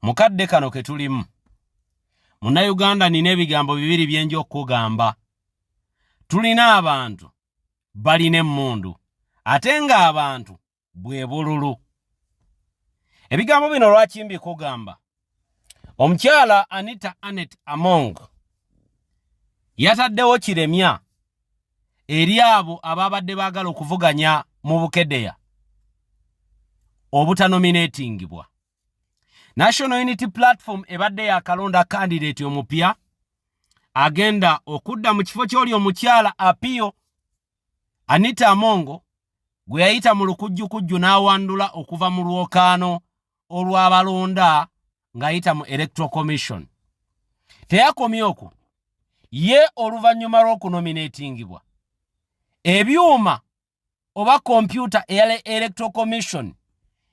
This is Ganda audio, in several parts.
mu kadde kano ke tulimu munnayuganda nina ebigambo bibiri byenja okukugamba tulina abantu balina emmundu ate ng'abantu bwe bululu ebigambo bino lwaki mbikugamba omukyala anita anet among yataddewo kiremya eri abo abaabadde baagala okuvuganya mu bukedeya obutanominatingibwa national unity platform ebadde yakalonda kandidaeti omupya agenda okudda mu kifo ky'oli omukyala apiyo anita amongo gwe yayita mu lukujjukujju n'awandula okuva mu lwokaano olw'abalonda ng'ayita mu electoral commission teyakomye okwo ye oluvannyuma lw'okunominatingibwa ebyuma oba kompyuta eya electoral commission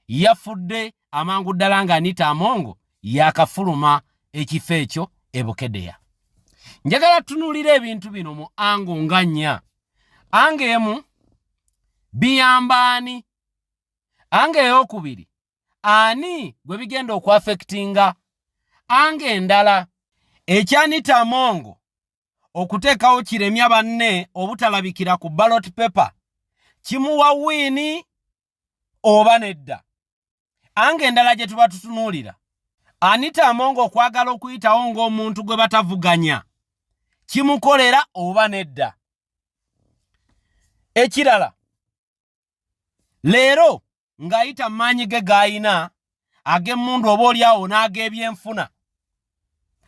yafudde amangu ddala nga anita amongo yakafuluma ekifo ekyo e bukedeya njagala tunuulira ebintu bino mu ango nga nnya anga emu biyambaani anga eyokubiri ani gwe bigenda okuafekitinga anga endala ekyanita amongo okuteekawo kiremya banne obutalabikira ku ballot paper kimuwa wiini oba nedda anga endala gye tuba tutunuulira anita amongo okwagala okuyitawo ng'omuntu gwe batavuganya kimukolera oba nedda ekirala leero ng'ayita maanyi ge g'alina ag'emmundu oba oli awo n'ag'ebyenfuna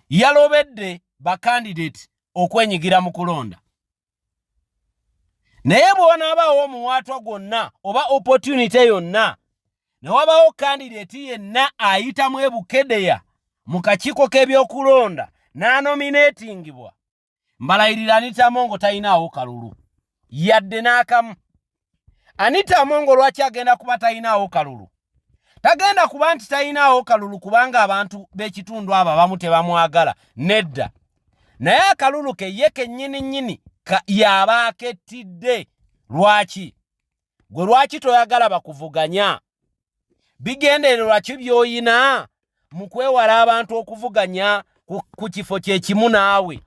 yalobedde bakandidate okwenyigira mu kulonda naye bwe wanaabaawo omuwaatwa gwonna oba opportunity yonna ne wabaawo kandidate yenna ayitamu ebukedeya mu kakiiko k'ebyokulonda n'anomineetingibwa mbalayirira anita amongo talinaawo kalulu yadde n'akamu anita amongo lwaki agenda kuba talinaawo kalulu tagenda kuba nti talinaawo kalulu kubanga abantu b'ekitundu abo abamu tebamwagala nedda naye akalulu ke ye kennyini nnyini yaabaaketidde lwaki gwe lwaki toyagala bakuvuganya bigendererwa ki byoyina mu kwewala abantu okuvuganya ku kifo kyekimu naawe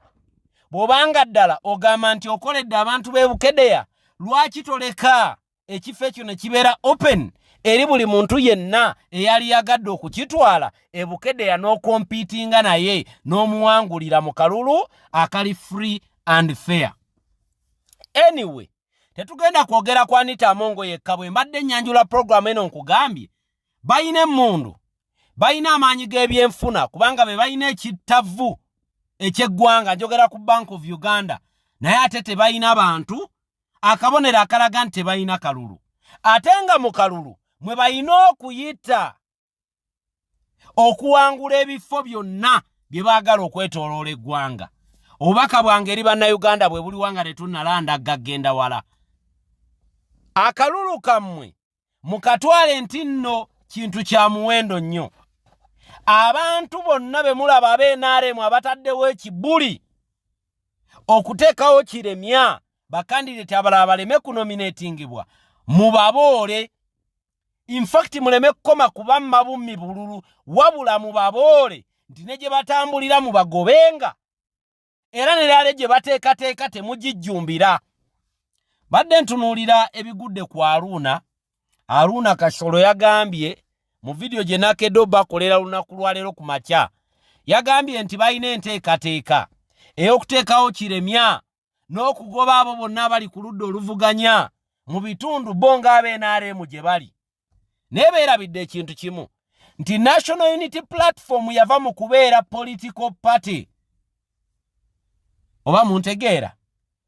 bw'obanga ddala ogamba nti okoledde abantu b'e bukedeya lwaki toleka ekifo ekyo ne kibeera open eri buli muntu yenna eyali yagadde okukitwala e bukedeya n'okompiitinga naye n'omuwangulira mu kalulu akali free and fair anyway tetugenda kwogera ku anita amongo yekka bwe mbadde ennyanjula pulogulaamu eno nkugambye balina emmundu balina amaanyi g'ebyenfuna kubanga be balina ekittavu eky'eggwanga njogera ku bank of uganda naye ate tebalina bantu akabonero akalaga nti tebalina kalulu ate nga mu kalulu mwe balina okuyita okuwangula ebifo byonna bye baagala okwetoloola eggwanga obubaka bwange eri bannayuganda bwe buliwa nga tetunnalanda gagenda wala akalulu kammwe mukatwale nti nno kintu kya muwendo nnyo abantu bonna be mulaba abeenaremu abataddewo ekibuli okuteekawo kiremya bakandideti abalala baleme kunominatingibwa mubaboole infacti muleme kukoma kuba mabummi bululu wabula mubaboole nti ne gye batambulira mu bagobenga era neraale gye bateekateeka temugijjumbira badde ntunuulira ebigudde ku aruuna aruuna kasolo yagambye mu vidiyo gye nakedo bakolera lunaku lwaleero ku makya yagambye nti balina enteekateeka ey'okuteekawo kiremya n'okugoba abo bonna abali ku ludda oluvuganya mu bitundu bo ng'aba nrm gye bali naye beerabidde ekintu kimu nti national unity platform yava mu kubeera political party oba mu ntegeera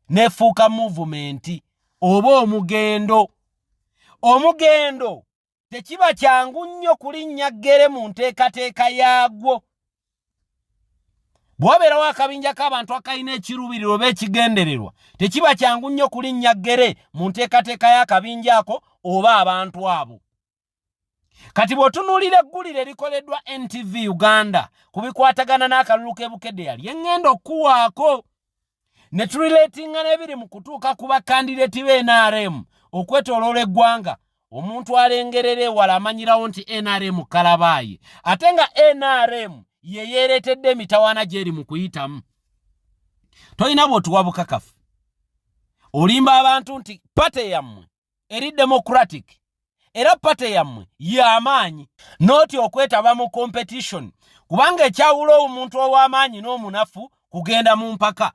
nefuuka muvumenti oba omugendo omugendo tekiba kyangu nnyo kulinnya ggere mu nteekateeka yaagwo bw'obeerawo akabinja k'abantu akalina ekiruubiriro oba ekigendererwa tekiba kyangu nnyo kulinnya ggere mu nteekateeka y'akabinja ako oba abantu abo kati bw'otunuulira eggulire erikoleddwa ntv uganda ku bikwatagana n'akalulu k'ebukedde yali eŋŋenda okukuwaako ne tulileetinga n'ebiri mu kutuuka ku bakandideti be nrm okwetoloola eggwanga omuntu alengerera ewala amanyirawo nti nrm kalabaayi ate nga nrm ye yeereetedde emitawaana gy'eri mu kuyitamu tolina bw'otuwa bukakafu olimba abantu nti pate yammwe eri democratic era pate yammwe y'amaanyi nooti okwetaba mu competition kubanga ekyawula omuntu ow'amaanyi n'omunafu kugenda mu mpaka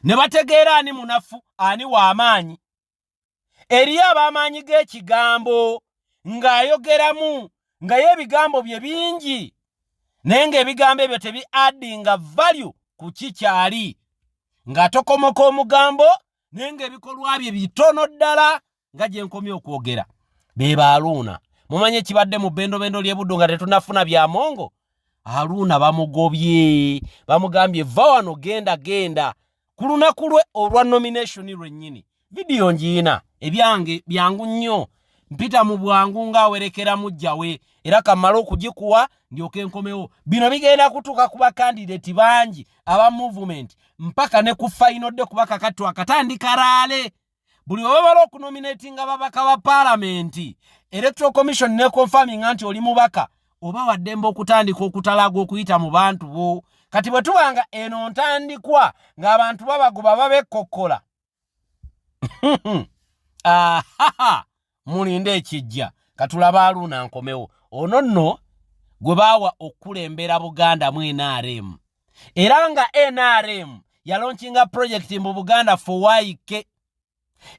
ne bategeera ani munafu ani w'amaanyi eriyo ab'amaanyi g'ekigambo ng'ayogeramu nga ye ebigambo bye bingi naye ng'ebigambo ebyo tebi addinga value ku ki kyali ng'atokomoka omugambo naye ng'ebikolwa bye bitono ddala nga gye nkomye okwogera be ba aluuna mumanyi ekibadde mu bendobendo ly'ebuddu nga tetunafuna bya mongo aluuna bamugobye bamugambye va wano genda genda ku lunaku lwe olwa nomination lwennyini vidiyo ngiina ebyange byangu nnyo mpita mu bwangu ng'awerekera mujja we era kamala okugikuwa ndyoka enkomewo bino bigenda kutuuka ku bakandidati bangi aba movement mpaka ne ku fayinodde kuba kakattu akatandika laale buli webamala okunominatinga babaka ba paalamenti electoral commission neconfaminga nti oli mubaka oba waddembe okutandika okutalaaga okuyita mu bantu bo kati bwe tubanga eno ntandikwa ng'abantu babagoba babekkokkola ahaha mulinde ekijja katulaba aluuna nkomewo ono nno gwe baawa okukulembera buganda mu nrm era nga nrm yalonkinga pulojekiti mu buganda fowaike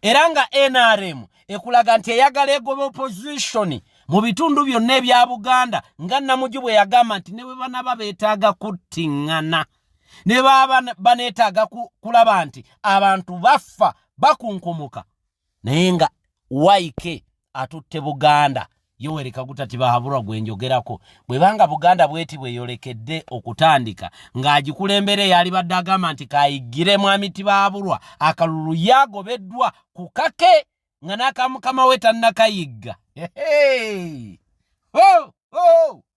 era nga nrm ekulaga nti eyagala egoba opozisoni mu bitundu byonna ebya buganda nga namuju bwe yagamba nti ne bwe banaba beetaaga kuttiŋŋana ne baba baneetaaga kulaba nti abantu baffa bakunkumuka naye nga yk atutte buganda yoweri kaguta tibahaburwa gwe njogerako bwebanga buganda bweti bweyolekedde okutandika ng'agikulembera eyali badde agamba nti kayigire mwami tibahaburwa akalulu yagobeddwa ku kake nga n'akamukama we tannakayigga oh, oh.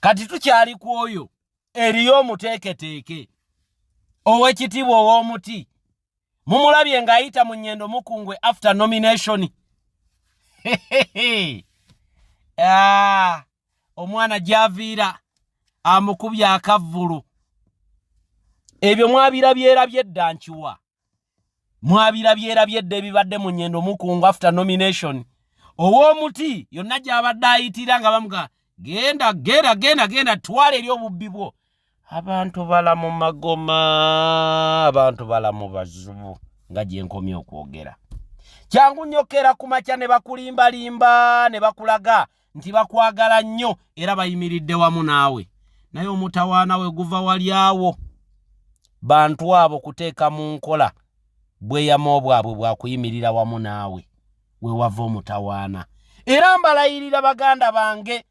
kati tukyali ku oyo eriyo omuteeketeeke ow'ekitiibwa ow'omuti mumulabye ng'ayita mu nyendo mukungwe after nomination ah, omwana gyaviira amukubye akavvulu ebyo mwabirabyerabye dda nkiwa mwabirabyerabye dda ebibadde mu nyendo mukungwe after nomination ow'omuti yonna gy'abadde ayitira nga bamuga genda gera genda genda twala eri obubbi bwo abantu bala mu magoma abantu bala mu bazubu nga gye nkomye okwogera kyangu nnyokera ku makya ne bakulimbalimba ne bakulaga nti bakwagala nnyo era bayimiridde wamu naawe naye omutawaana we guva wali awo bantu abo kuteeka mu nkola bweyama obwabwe bwakuyimirira wamu naawe we wava omutawaana era mbalayirira baganda bange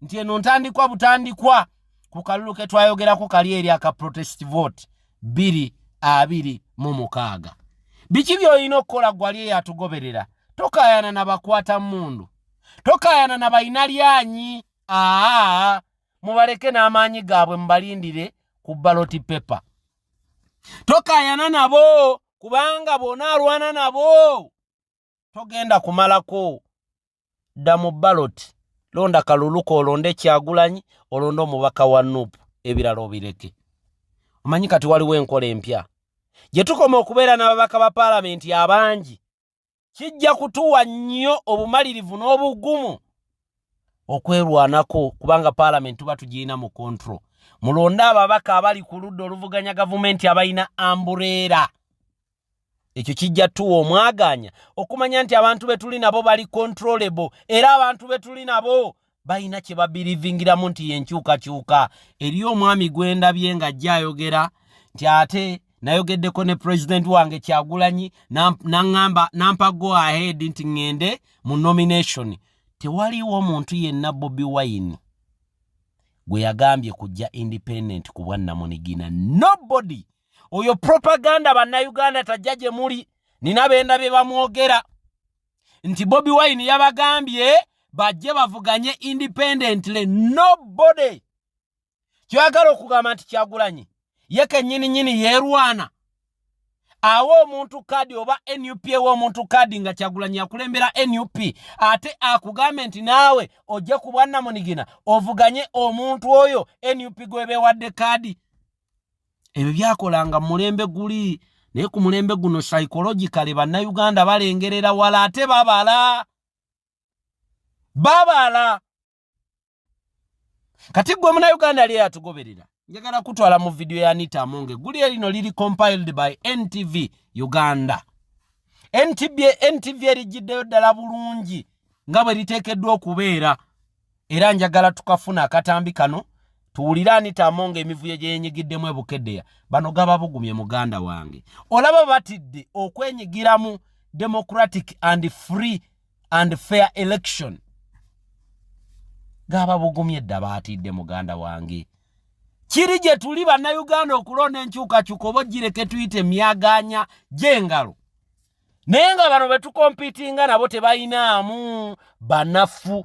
nti eno ntandikwa butandikwa ku kalulu ke twayogerako kali eri aka protest vote biri abiri mu mukaaga biki by'olina okukola gwali eyo atugoberera tokayana na bakwata mundu tokayana na balina lyanyi aa mubaleke n'amaanyi gaabwe mubalindire ku baloti pepa tokayana nabo kubanga bona alwana nabo togenda kumalako dda mu baloti londa kaluluka olonde kyagulanyi olonde omubaka wa nup ebirala obireke omanyi kati waliwo enkola empya gye tukoma okubeera n'ababaka ba paalamenti abangi kijja kutuwa nnyo obumalirivu n'obugumu okwerwanako kubanga paalamenti tuba tugirina mu kontro mulonde ababaka abali ku ludda oluvuganya gavumenti abalina ambureera ekyo kijja tuwa omwagaanya okumanya nti abantu be tuli nabo bali controllable era abantu be tuli nabo balina kye babirivingiramu nti yenkyukakyuka eriyo omwami gwendabye nga ajja ayogera nti ate nayogeddeko ne pulezidenti wange kyagulanyi naŋamba nampa go ahead nti ŋŋende mu nomination tewaliwo omuntu yenna bobi wine gwe yagambye kujja independent ku bwannamunigina nobody oyo propaganda bannayuganda tajja gye muli nina benda bye bamwogera nti bobi wine yabagambye bajje bavuganye independently nobody kyoyagala okugamba nti kyagulanyi ye kenyini nyini yerwana awa omuntu kadi oba nup ewa omuntu kadi nga kyagulanyi yakulembera nup ate akugambe nti naawe ojje ku bwannamunigina ovuganye omuntu oyo nup gwebewadde kadi ebyo byakolanga mulembe guli naye ku mulembe guno psychologically bannayuganda balengerera wala ate babala babala kati gwe munayuganda lye yatugoberera njagala kutwala mu vidiyo ya nita amonge guli erino liri compiled by ntv uganda ntv ntv erijjiddeyo ddala bulungi nga bwe liteekeddwa okubeera era njagala tukafuna akatambi kano tuwulire anita amonga emivuyo gyeyenyigiddemu ebukedeya bano gaba bugumye muganda wange olaba batidde okwenyigiramu democratic and free and fair election gaba bugumye dda batidde muganda wange kiri gye tuli bannayuganda okulonda enkyukakyuka oba ogireke tuyite myaganya gyengalo naye nga bano betukompitinga nabo tebalinaamu banafu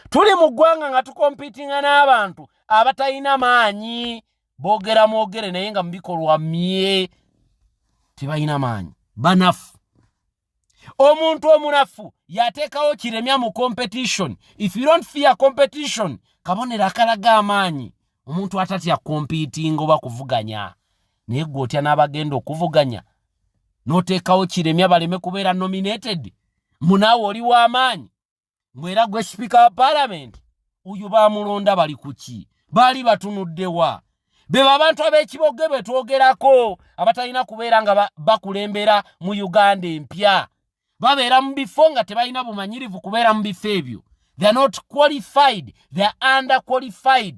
tuli mu ggwanga nga tukompitinga n'abantu abatalina maanyi boogera mwogere naye nga mubikolwa mye tebalina maanyi banafu omuntu omunafu yateekawo kiremya mu competition if you don't fear competition kabonero akalaga amaanyi omuntu atatya kompiitinga oba kuvuganya naye gwe otya n'abagenda okuvuganya n'oteekawo kiremya baleme kubeera nominated munaawe oli w'amaanyi ngwera gwe sipiika wa paalamenti oyo baamulonda bali ku ki baali batunuddewa be babantu ab'ekiboge be twogerako abatalina kubeera nga bakulembera mu uganda empya babeera mu bifo nga tebalina bumanyirivu kubeera mu bifo ebyo they're not qualified they're under qualified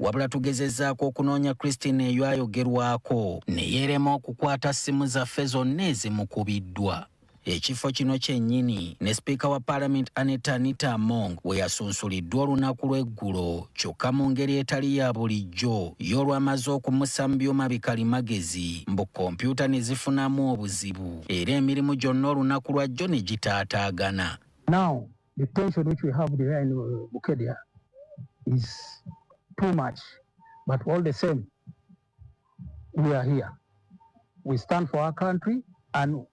wabula tugezezaako okunoonya Christine eyo ayogerwako ne yeerema okukwata ssimu zaffe zonna ezimukubiddwa ekifo kino kyennyini ne sipiika wa paalamenti aneta anita among we yasunsuliddwa olunaku lw'eggulo kyokka mu ngeri etali ya bulijjo ye olwamaze okumussa mu byuma bikalimagezi mbu kompyuta ne zifunamu obuzibu era emirimu gyonna olunaku lwajjo ne gitaataagana Now, the tension which we have there in uh, Bukedia is too much. But all the same, we are here. We stand for our country and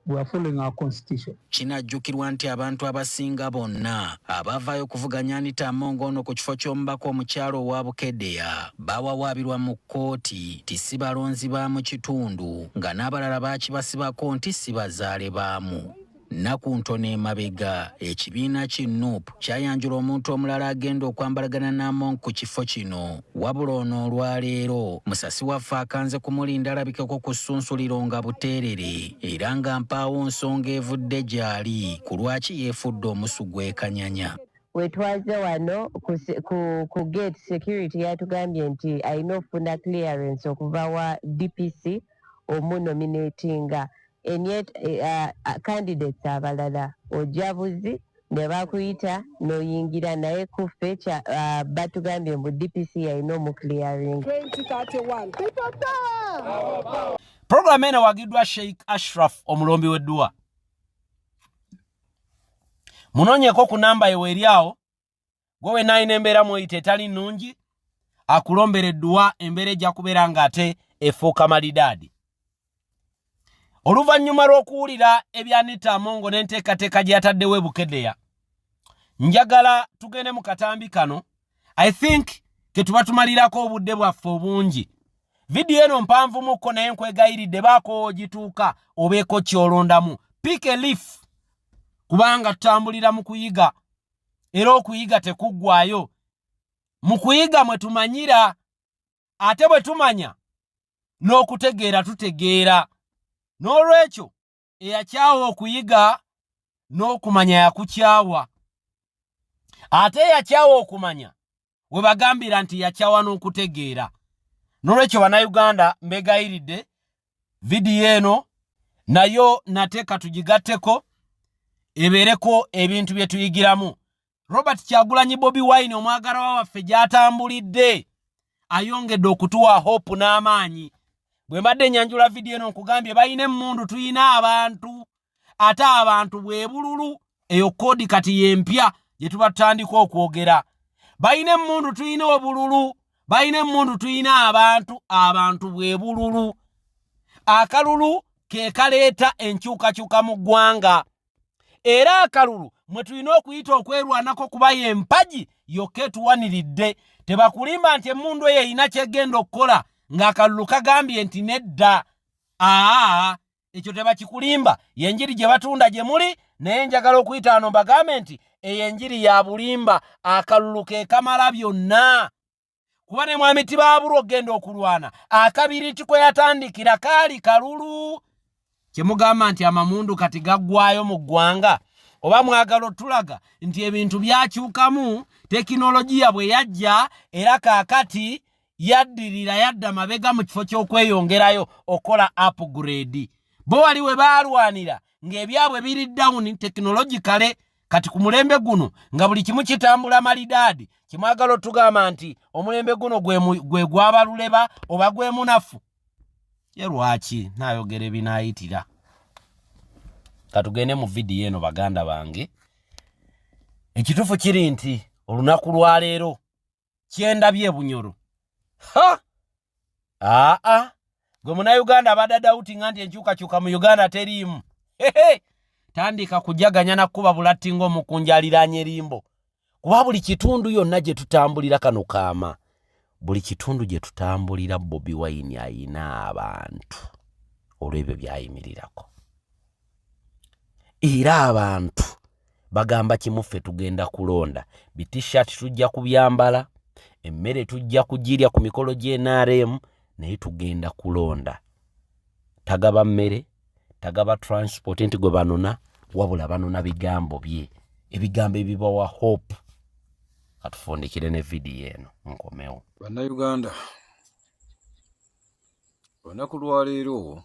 we are following our constitution. kinajjukirwa nti abantu abasinga bonna abavaayo okuvuganya anita amongo ono ku kifo ky'omubaka omukyalo owa bukedeya bawawaabirwa mu kkooti ti si balonzi ba mu kitundu nga n'abalala baakibasibako nti si bazaale baamu nnaku ntono emabega ekibiina ki nup kyayanjula omuntu omulala agenda okwambalagana n'among ku kifo kino wabula ono olwaleero musasi waffe akanze kumulinda alabikeko ku ssunsuliro nga buteerere era nga mpaawo nsonga evudde gy'ali ku lwaki yeefudde omusu gw'ekanyanya wetwaze wano ku, ku, ku gate security yatugambye nti alina okufuna clearance okuva wa dpc omunominatinga enet uh, candidates abalala ojja buzi ne bakuyita noyingira naye kuffe uh, batugambye mbu dpc yalina omuclearing puroguramu eno wagiddwa sheikh ashraf omulombi w'edduwa munoonyeko ku namba yeweeri awo gwe wenna alina embeera mweyita etali nnungi akulombera edduwa embeera ejja kubeera ng'ate efuuka malidaadi oluvannyuma lw'okuwulira ebyanita amongo n'enteekateeka gye yataddewo ebukedeya njagala tugende mu katambi kano i think ketuba tumalirako obudde bwaffe obungi vidiyo eno mpanvumukko naye nkwegayiridde baako ogituuka obeeko kyolondamu pick a leaf kubanga tutambulira mu kuyiga era okuyiga tekuggwayo mu kuyiga mwe tumanyira ate bwe tumanya n'okutegeera tutegeera n'olwekyo eyakyawa okuyiga n'okumanya yakukyawa ate eyakyawa okumanya we bagambira nti yakyawa n'okutegeera n'olwekyo bannayuganda mbegayiridde vidiyo eno nayo nate katugigatteko ebeereko ebintu bye tuyigiramu robert kyagulanyi bobi wine omwagalawa waffe gy'atambulidde ayongedde okutuwa hope n'amaanyi bwe mbadde enyanjula vidiyo eno nkugambye balina emmundu tulina abantu ate abantu bwebululu eyo kodi kati yempya gyetuba tutandika okwogera balina emundu tulina obululu balina emundu tulina abantu abantu bwebululu akalulu kekaleeta enkyukakyuka mu ggwanga era akalulu mwe tulina okuyita okwerwanako kuba ye empagi yokka etuwaniridde tebakulimba nti emundu eyo erina kyegenda okukola ng'akalulu kagambye nti nedda aa ekyo tebakikulimba yenjiri gye batunda gye muli naye njagala okuyita ano mbagambe nti eyo enjiri ya bulimba akalulu ke kamala byonna kuba ne mwami tibaabula okugenda okulwana akabiriti kwe yatandikira kaali kalulu kyemugamba nti amamundu kati gaggwayo mu ggwanga oba mwagala otulaga nti ebintu byakyukamu tekinologiya bwe yajja era kaakati yaddirira yadda mabega mu kifo ky'okweyongerayo okola upgrade bo wali we baalwanira ng'ebyabwe biri down tekinologikale kati ku mulembe guno nga buli kimu kitambula malidaadi kimwagala otugamba nti omulembe guno gwe gwabaluleba oba gwe munafu ye lwaki nayogera ebinayitira katugende mu vidiyo eno baganda bange ekituufu kiri nti olunaku lwaleero kyendabye ebunyoro ha aa gwe munauganda abadde dautinga nti enkyukakyuka mu uganda teriimu hehe tandika kujaganya nakukuba bulatti ngaomukunja aliraanya erimbo kuba buli kitundu yonna gye tutambulira kano kaama buli kitundu gye tutambulira bobi wayini ayina abantu olw'ebyo byayimirirako era abantu bagamba kimu ffe tugenda kulonda bitishat tujja kubyambala emmere tujja kugirya ku mikolo gy'enrm naye tugenda kulonda tagaba mmere tagaba transport nti gwe banona wabula banona bigambo bye ebigambo ebibawa hope atufundikire ne vidiyo eno nkomewo bannayuganda olunaku lwaleero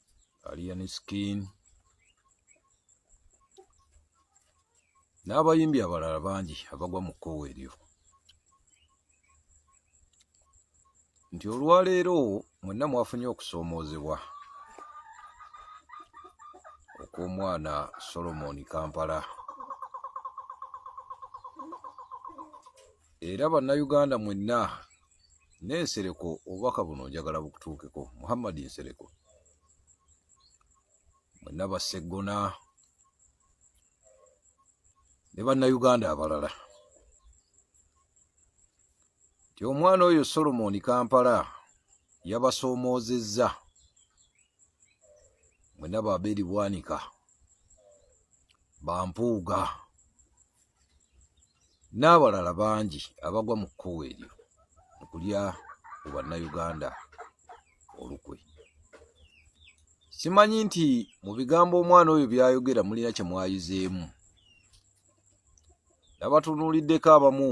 alien skin n'abayimbi abalala bangi abagwa mu kkowa eryo nti olwaleero mwenna mwafunye okusoomoozebwa okw'omwana solomoni kampala era bannayuganda mwenna nensereko obubaka buno njagala bukutuukeko muhammadi nsereko mwenna baseggona ne bannayuganda abalala nti omwana oyo solomoni kampala yabasoomoozezza mwena baberi bwanika bampuuga n'abalala bangi abagwa mu kkuwa eryo okulya ku bannayuganda olukwe simanyi nti mu bigambo omwana oyo byayogera mulina kye mwayizeemu nabatunuuliddeko abamu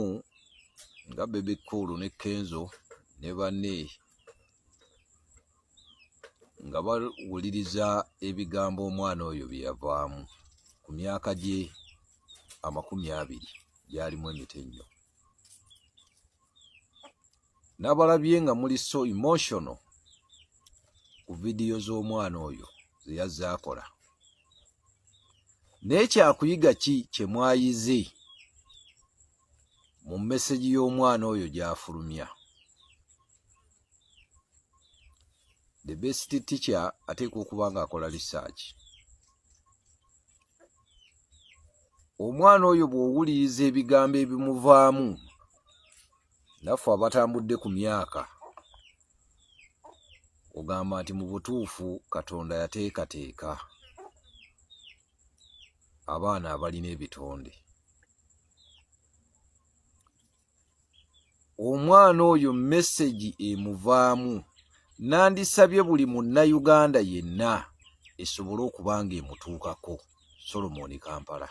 nga bebekkuulu ne kenzo ne banne nga bawuliriza ebigambo omwana oyo bye yavaamu ku myaka gye amakumi abiri gyalimu emitenyo nabalabye nga muli so emotional ku vidiyo z'omwana oyo ze yazze akola naye kyakuyiga ki kye mwayize mu mesegi y'omwana oyo gy'afulumya the best teacher ateekwa okuba ng'akola risaaki omwana oyo bw'owuliriza ebigambo ebimuvaamu naffe abatambudde ku myaka ogamba nti mu butuufu katonda yateekateeka abaana abalina ebitonde omwana oyo mesegi emuvaamu nandisabye buli munnayuganda yenna esobole okuba nga emutuukako solomoni kampala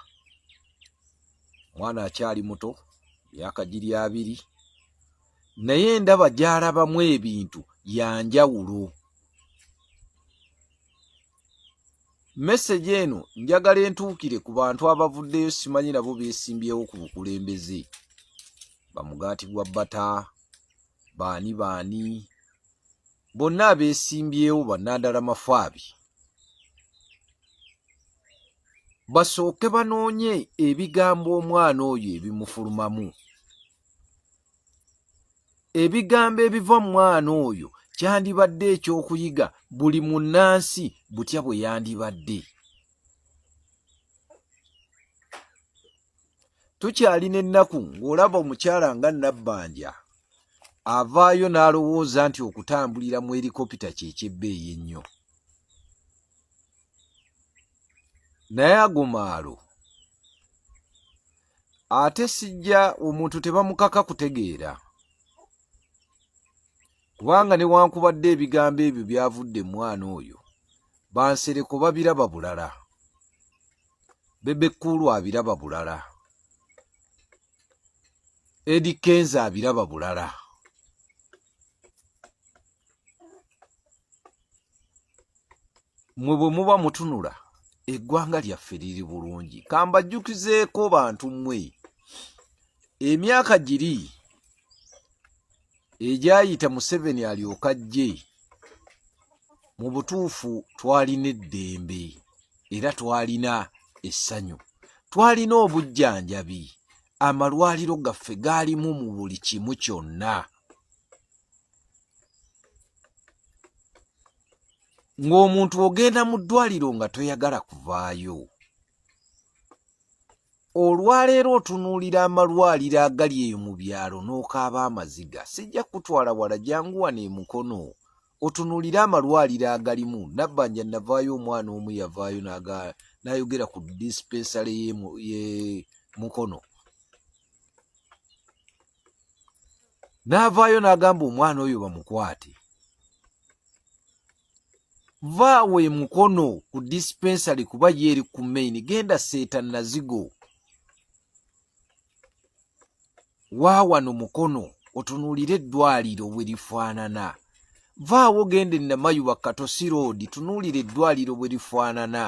omwana akyali muto myaka giri abiri naye ndaba gyalabamu ebintu yanjawulo message eno njagala entuukire ku bantu abavuddeyo simanyi nabo beesimbyewo ku bukulembeze bamugaati gwa bata baani baani bonna abeesimbyewo bannandala mafaabi basooke banoonye ebigambo omwana oyo ebimufulumamu ebigambo ebiva mu mwana oyo kyandibadde ekyokuyiga buli munnansi butya bwe yandibadde tukyalina ennaku ng'olaba omukyala nga nabbanja avaayo n'alowooza nti okutambulira mu erikopita kyekyebbeeyi ennyo naye ago maalo ate sijja omuntu tebamukaka kutegeera kubanga newankubadde ebigambo ebyo byavudde mwana oyo bansereko babiraba bulala bebekkuulu abiraba bulala edi kenza abiraba bulala mwe bwe muba mutunula eggwanga lyaffe liri bulungi kambajjukizeeko bantu mmwe emyaka giri egyayita museveni alyoka jje mu butuufu twalina eddembe era twalina essanyu twalina obujjanjabi amalwaliro gaffe gaalimu mu buli kimu kyonna ng'omuntu ogenda mu ddwaliro nga toyagala kuvaayo olwaleero otunuulira amalwaliro agali eyo mu byalo n'okaaba amaziga sijja kutwala wala jangu wano emukono otunuulire amalwaliro agalimu nabbanja navaayo omwana omu yavaayo nayogera ku dispensale ye mukono n'avaayo n'agamba omwana oyo bamukwate vaawo emukono ku dispensary kuba ye eri ku maini genda seeta nazigo waawano mukono otunuulire eddwaliro bwe lifaanana vaawo genda enamayuba katosi roodi tunuulire eddwaliro bwe lifaanana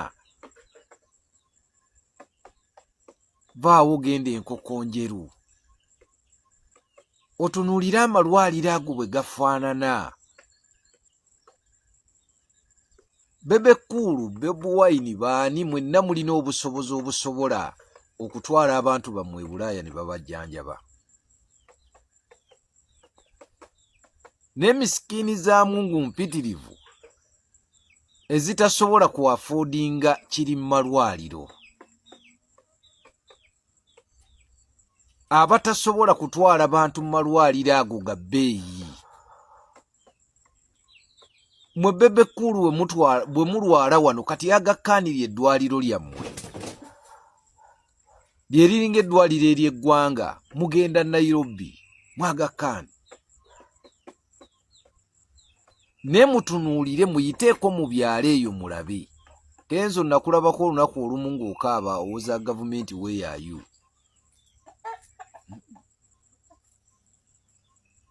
vaawo genda enkoko njeru otunuulire amalwaliro ago bwe gafaanana bebekuulu bebuwaini baani mwenna mulina obusobozi obusobola okutwala abantu bammwe ebulaaya ne babajjanjaba n'emisikiini za mungu mpitirivu ezitasobola ku afoodinga kiri mu malwaliro abatasobola kutwala bantu mu malwaliro ago ga bbeeyi mwe bebe kulu bwe mulwala wano kati yagakkaanira eddwaliro lyammwe lye liringa eddwaliro ery'eggwanga mugenda nairobi mwagakkaani ne mutunuulire muyiteeko mu byalo eyo mulabe kenzo nakulabako olunaku olumu ng'okaaba owoza gavumenti weyayu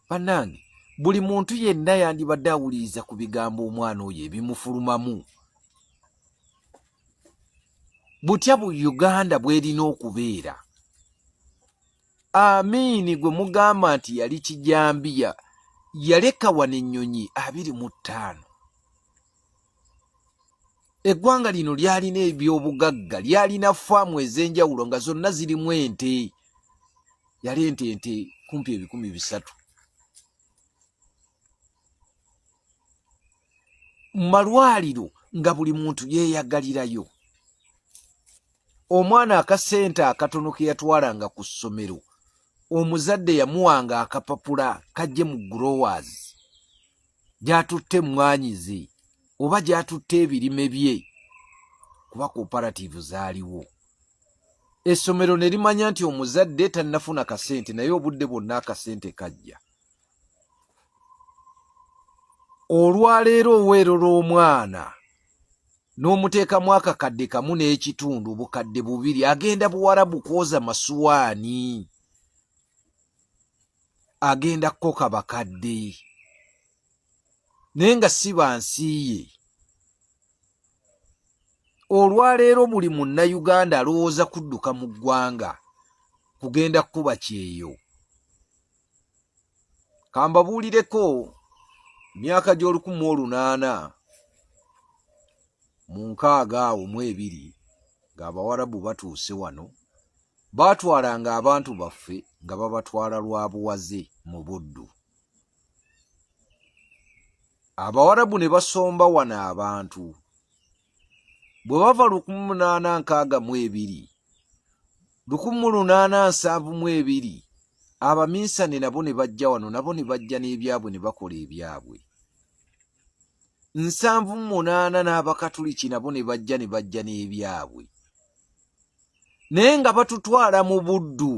banange buli muntu yenna yandibadde awuliriza ku bigambo omwana oyo ebimufulumamu butya bu uganda bwerina okubeera amiini gwe mugamba nti yali kijambiya yaleka wano ennyonyi abiri mu ttaano eggwanga lino lyalina ebyobugagga lyalina faamu ez'enjawulo nga zonna zirimu ente yali ente ente kumpi ebikumi bisatu mu malwaliro nga buli muntu yeeyagalirayo omwana akasente akatono ke yatwalanga ku ssomero omuzadde yamuwanga akapapula kajje mu growers gyatutte emmwanyi ze oba gyatutte ebirime bye kuba cooperativu zaaliwo essomero ne limanya nti omuzadde tannafuna kasente naye obudde bwonna akasente kajja olwaleero oweerora omwana n'omuteekamu akakadde kamu n'ekitundu bukadde bubiri agenda buwarabu kwoza masuwaani agenda kukoka bakadde naye nga si bansi ye olwaleero buli munnayuganda alowooza kudduka mu ggwanga kugenda kukuba kyeyo kambabuulireko myaka gy'olukumu olunaana mu nkaaga awo mu ebiri ng'abawarabu batuuse wano baatwalanga abantu baffe nga babatwala lwa buwaze mu buddu abawarabu ne basomba wano abantu bwe bava lukumu munaana nkaaga mu ebiri lukumu lunaana nsanvu mu ebiri abaminsani nabo ne bajja wano nabo ne bajja n'ebyabwe ne bakola ebyabwe nsanvu munaana n'abakatuliki nabo ne bajja ne bajja n'ebyabwe naye nga batutwala mu buddu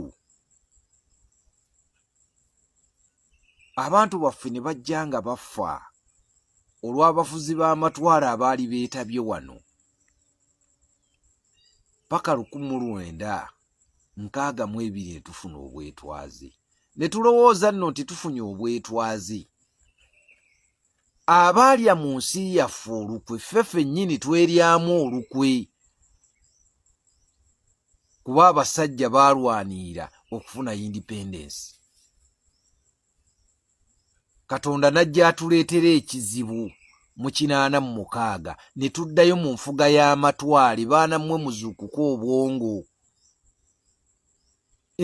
abantu baffe ne bajja nga bafa olw'abafuzi b'amatwala abaali beetabye wano paka lukumu lwenda nkaaga mu ebiri netufuna obwetwaze netulowooza nno nti tufunye obwetwaze abaalya mu nsi yaffe olukwe ffe fennyini tweryamu olukwe kuba abasajja baalwaniira okufuna independence katonda n'ajja atuleetera ekizibu mu kinaana mu mukaaga ne tuddayo mu nfuga y'amatwale baana mmwe muzuukuka obwongo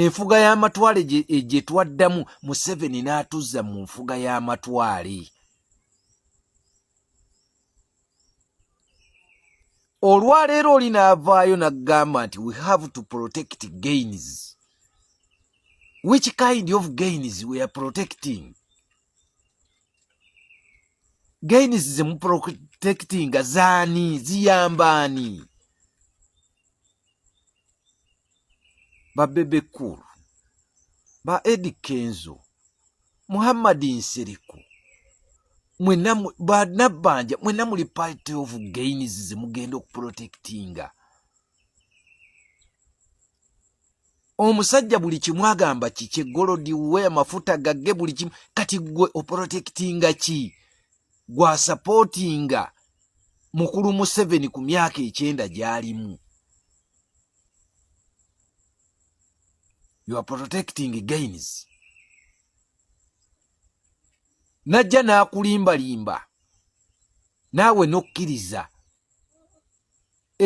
enfuga y'amatwale gye e, twaddamu museveni n'atuzza mu nfuga y'amatwale olwaleero oli n'avaayo n'agamba nti we have to protect gains which kind of gains we are protecting gains zemuprotectinga zaani ziyambaani babebe cool ba edi kenzo muhammadi nsiriku mwena banabbanja mwena muli party of gains zemugenda okuprotectinga omusajja buli kimu agamba kikye golodi we amafuta gagge buli kimu kati gwe oprotectinga ki gwasapootinga mukulu museveni ku myaka ekyenda gyalimu you are protecting gains najja n'akulimbalimba naawe n'okkiriza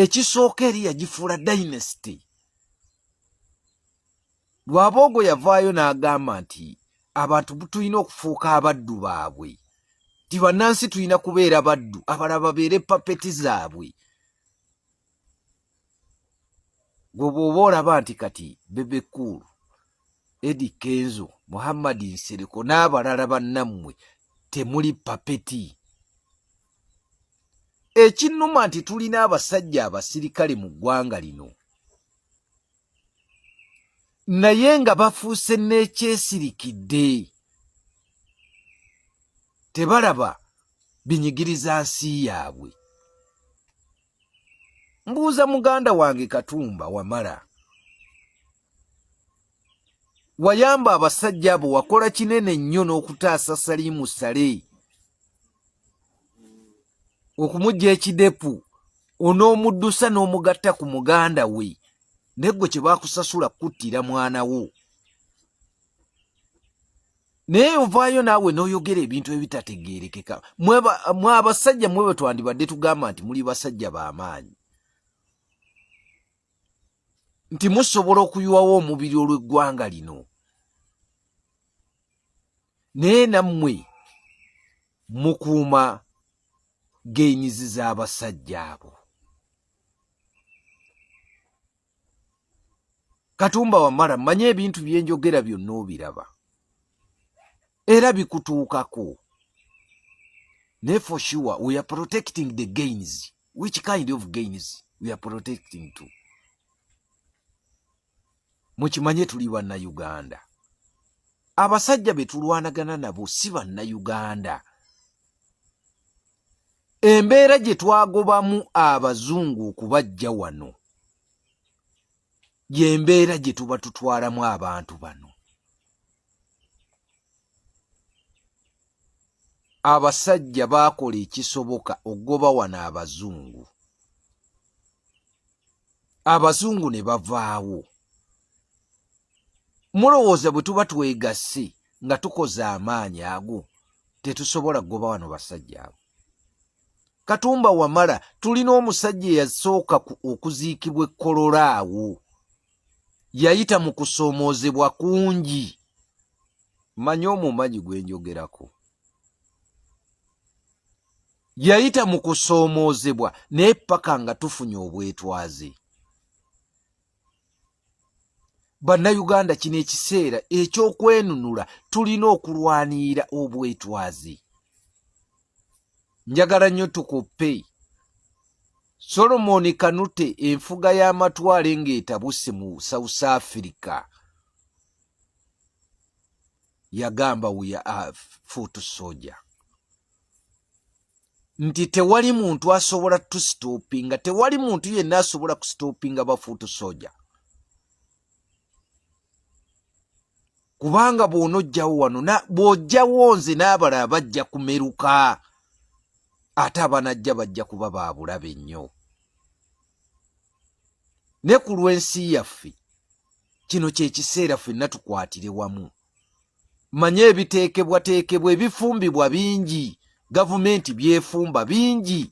ekisooka eri yagifuula dynasty lwaboogo yavaayo n'agamba nti abantu tulina okufuuka abaddu baabwe ti bannansi tulina kubeera baddu abala babeere papeti zaabwe gwe bwoba olaba nti kati bebe cool edi kenzo muhammad nsereko n'abalala bannammwe temuli papeti ekinnuma nti tulina abasajja abasirikale mu ggwanga lino naye nga bafuuse n'ekyesirikidde tebalaba binyigiriza nsi yaabwe mbuuza muganda wange katumba wamala wayamba abasajja abo wakola kinene nnyo n'okutaasa saliimu sale okumujja ekidepu onoomuddusa n'omugatta ku muganda we negwe kye bakusasula kukuttira mwana wo naye ovaayo naawe n'oyogera ebintu ebitategeerekeka mwe abasajja mwe bwe twandibadde tugamba nti muli basajja b'amaanyi nti musobola okuyiwawo omubiri olw'eggwanga lino naye nammwe mukuuma geenyizi z'abasajja abo katumba wamala manya ebintu byenjogera byonna obiraba era bikutuukako naye for sure we are protecting the gains which kind of gains we are protecting to mukimanye tuli bannayuganda abasajja be tulwanagana nabo si bannayuganda embeera gye twagobamu abazungu okubajja wano gyembeera gye tuba tutwalamu abantu bano abasajja baakola ekisoboka okugoba wano abazungu abazungu ne bavaawo mulowooza bwe tuba twegasse nga tukoze amaanyi ago tetusobola kugoba wano basajja abo katumba wamala tulina omusajja eyasooka okuziikibwa ekkolola awo yayita mu kusoomoozebwa kungi manya omumanyi gwe njogerako yayita mu kusoomoozebwa naye paka nga tufunye obwetwaze bannayuganda kino ekiseera ekyokwenunula tulina okulwanirira obwetwaze njagala nnyo tukuppe solomoni kanute enfuga y'amatwale ng'etabuse mu south africa yagamba we are foot soldier nti tewali muntu asobola tusitopinga tewali muntu yenna asobola kusitopinga bafuutu soja kubanga bwona ojjawo wano bw'ojjawo nze n'abala abajja kumeruka ate abanajja bajja kuba baabulabe nnyo ne ku lw'ensi yaffe kino kye kiseera fenna tukwatire wamu manya ebiteekebwateekebwa ebifumbibwa bingi gavumenti byefumba bingi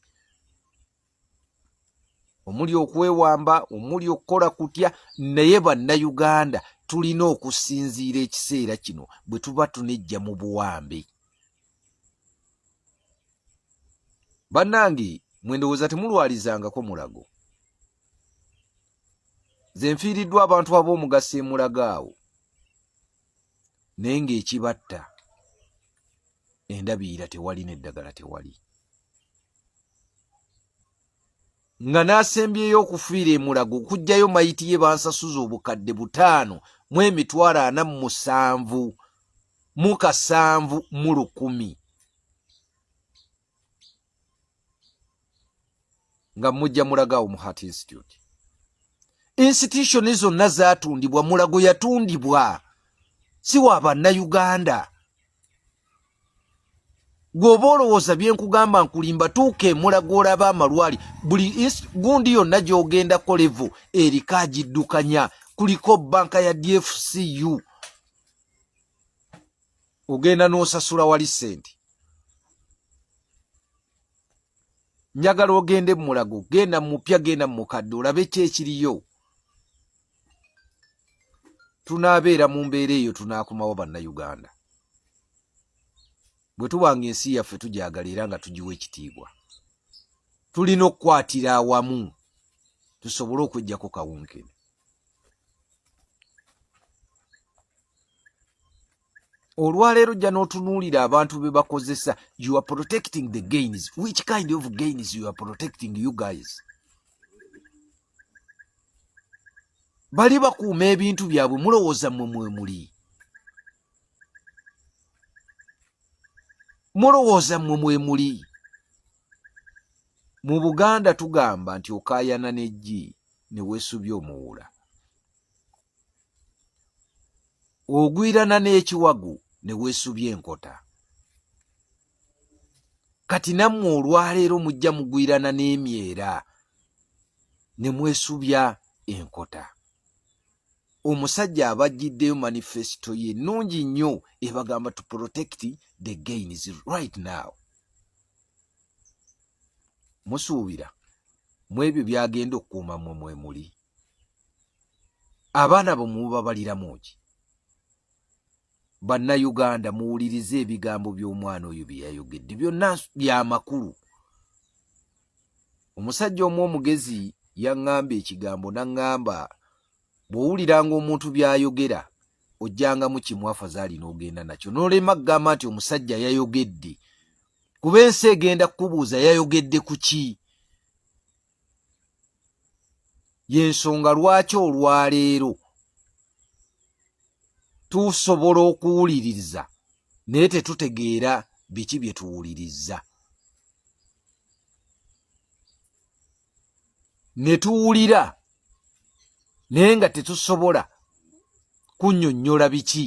omuli okwewamba omuli okukola kutya naye bannayuganda tulina okusinziira ekiseera kino bwe tuba tunejja mu buwambe bannange mwendowooza temulwalizangako mulago ze nfiiriddwa abantu ab'omugaso emulago awo naye ng'ekibatta endabiira tewali n'eddagala tewali nga n'asembyeyo okufiira emulago okugjayo mayiti ye bansasuza obukadde butaano mu emitwalo ana mu musanvu mu kasanvu mu lukumi nga mujja mulagaawo mu heart institute institution zonna zatundibwa mulago yatundibwa si wa bannayuganda gweoba olowooza byenkugamba nkulimba tuuka emulago olaba amalwali buli gundi yonna gyogenda kolevo eriko agiddukanya kuliko banka ya dfcu ogenda n'osasula wali ssente njagala ogende mu mulago genda mu mupya genda mu mukadde olabe ki ekiriyo tunaabeera mu mbeera eyo tunaakomawo bannayuganda bwe tuba nga ensi yaffe tugyagala era nga tugiwa ekitiibwa tulina okukwatira awamu tusobole okwejjako kawunkene olwaleero jja n'otunuulira abantu be bakozesa you are protecting the gains which kind of gains you are protecting you guys bali bakuuma ebintu byabwe mulowooza mwe mwe muli mulowooza mwe mwe muli mu buganda tugamba nti okaayana n'eggi ne weesubya omuwuula ogwirana n'ekiwagu ne weesubya enkota kati nammwe olwaleero mujja mugwirana n'emyera ne mwesubya enkota omusajja abajjiddeyo manifesito ye nnungi nnyo ebagamba to protect the gains right now musuubira mu ebyo byagenda okukuuma mwe mwe muli abaana bo mubabaliramu ki bannayuganda muwulirize ebigambo by'omwana oyo bye yayogedde byonna bya makulu omusajja omu omugezi yaŋŋamba ekigambo naŋŋamba bw'owuliranga omuntu by'ayogera ojjangamu kimu afazaali n'ogenda nakyo n'olema kugamba nti omusajja yayogedde kuba ensi egenda kukubuuza yayogedde ku ki y'ensonga lwaki olwaleero tusobola okuwuliriza naye tetutegeera biki bye tuwuliriza ne tuwulira naye nga tetusobola kunyonnyola biki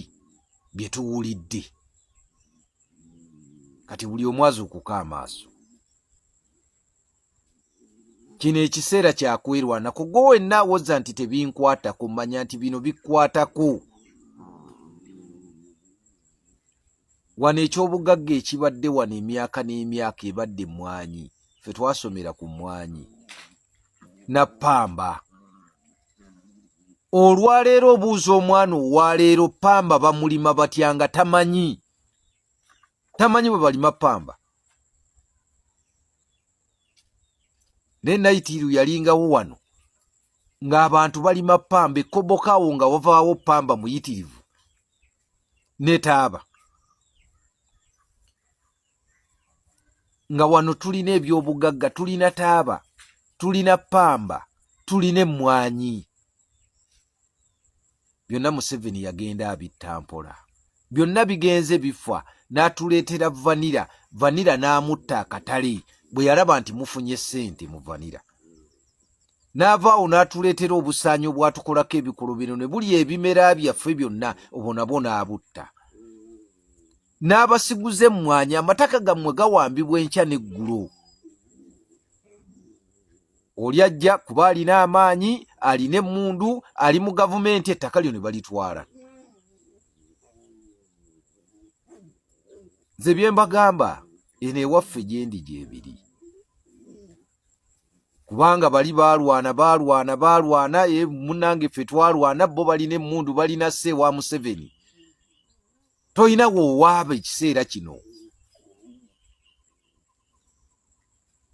bye tuwulidde kati buli omu azuukuka amaaso kino ekiseera kyakwerwana kugo wenna awoza nti tebinkwatako manya nti bino bikwatako wano ekyobugagga ekibadde wano emyaka n'emyaka ebadde mwanyi fe twasomera ku mwanyi na pamba olwaleero obuuza omwana owaleero pamba bamulima batya nga tamanyi tamanyi bwe balima pamba naye nayitiiru yalingawo wano ng'abantu balima pamba ekobokaawo nga wavaawo pamba muyitirivu netaaba nga wano tulina ebyobugagga tulina taaba tulina pamba tulina emmwanyi byonna museveni yagenda abitta mpola byonna bigenze bifa n'atuleetera vanira vanira n'amutta akatale bwe yalaba nti mufunye ssente mu vanira n'avaawo n'atuleetera obusaanyi obwatukolako ebikolobero ne buli ebimera byaffe byonna obwo nabwo n'abutta n'abasiguza emmwanyi amataka gammwe gawambibwa enkya n'eggulo oli ajja kuba alina amaanyi alina emmundu ali mu gavumenti ettaka lyo ne balitwala nze bye mbagamba eno ewaffe gyendi gyebiri kubanga bali balwana balwana balwana e eh, munange ffe twalwana bo balina emundu balina se wa museveni toyina wowaaba ekiseera kino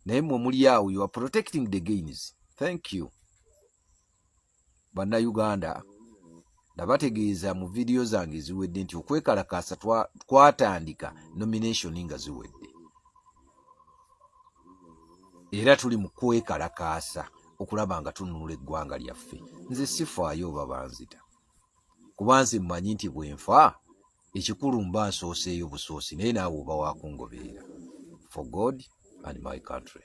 naye mwe muli awo you are protecting the gains thank you bannayuganda nabategeeza mu vidiyo zange ziwedde nti okwekalakaasa twatandika nomination nga ziwedde era tuli mu kwekalakaasa okulaba nga tununula eggwanga lyaffe nze sifaayo oba banzita kuba nze mmanyi nti bwe nfa ekikulu mba nsooseeyo busoosi naye naawe oba wakungobeera for god and my country